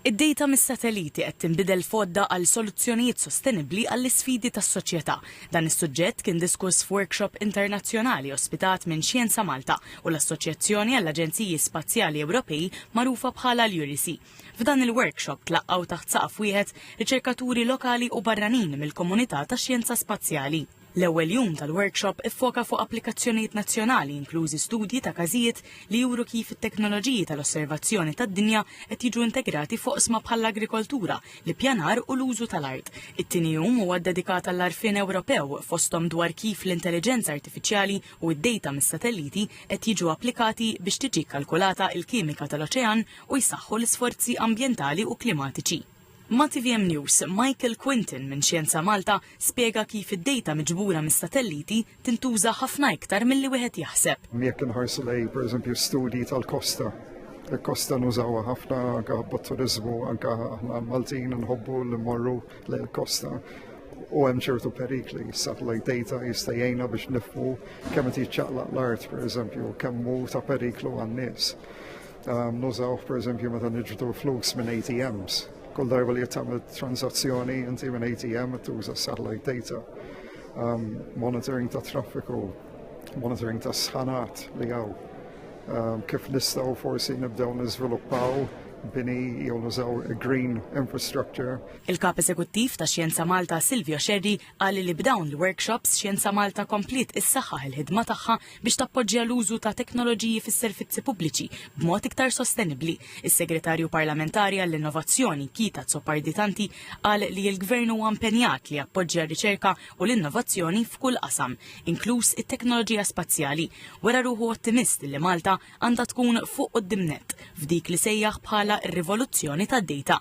Id-dejta mis-satelliti qed tinbidel f'għodda għal soluzzjonijiet sostenibbli għall-isfidi tas-soċjetà. Dan is-suġġett kien diskuss f'workshop internazzjonali ospitat minn Xjenza Malta u l-Assoċjazzjoni għall-Aġenziji Spazjali Ewropej magħrufa bħala l-URISI. F'dan il-workshop tlaqqgħu taħt saqaf wieħed riċerkaturi lokali u barranin mill-komunità tax-xjenza spazjali. L-ewwel jum tal-workshop iffoka fuq applikazzjonijiet nazzjonali inklużi studji ta' każijiet li juru kif it-teknoloġiji tal-osservazzjoni tad-dinja qed jiġu integrati f'oqsma bħall-agrikoltura, l-ippjanar u l-użu tal-art. It-tieni jum huwa ddedikat għall-għarfien Ewropew fosthom dwar kif l-intelliġenza artifiċjali u d-dejta mis-satelliti qed jiġu applikati biex tiġi kkalkulata l-kimika tal-oċean u jsaħħu l-isforzi ambjentali u klimatiċi. Ma' tvm News, Michael Quinton minn Xjenza Malta spjega kif id-dejta miġbura mis-satelliti tintuża ħafna iktar milli wieħed jaħseb. Jekk inħarsu lejn, pereżempju, studji tal-kosta, il-kosta nużawha ħafna anke bot-turiżmu, anke aħna Maltin nħobbu li mmorru lejn il-kosta u hemm ċertu perikli. Satellite data jista' jgħinna biex nifhmu kemm qed jiċċaqlaq l-art, pereżempju, kemm hu ta' periklu għan-nies. Ehm, nużawh pereżempju meta niġbdu flus minn ATMs. Kull darba li tagħmel transazzjoni inti minn ATM tuża satellite data. Ehm, monitoring ta' traffiku, monitoring ta' sħanat li għaw. Ehm, kif nistgħu forsi nibdew niżviluppaw bini jew nużaw green infrastructure. Il-Kap Eżekuttiv ta' Xjenza Malta Silvio Xerri Qal li b'dawn il-workshops Xjenza Malta kompliet issaħħaħ il-ħidma tagħha biex tappoġġja l-użu ta' teknoloġiji fis-servizzi pubbliċi b'mod iktar sostenibbli. Is-Segretarju Parlamentari għall-Innovazzjoni, Kita Azzopardi-Tanti, qal li l-Gvern huwa impenjat li jappoġġja r-riċerka u l-innovazzjoni f'kull qasam, inkluż it-teknoloġija spazjali. Wera ruħu ottimist li Malta għandha tkun fuq quddiem nett f'dik li sejjaħ bħala r-rivoluzzjoni tad-dejta.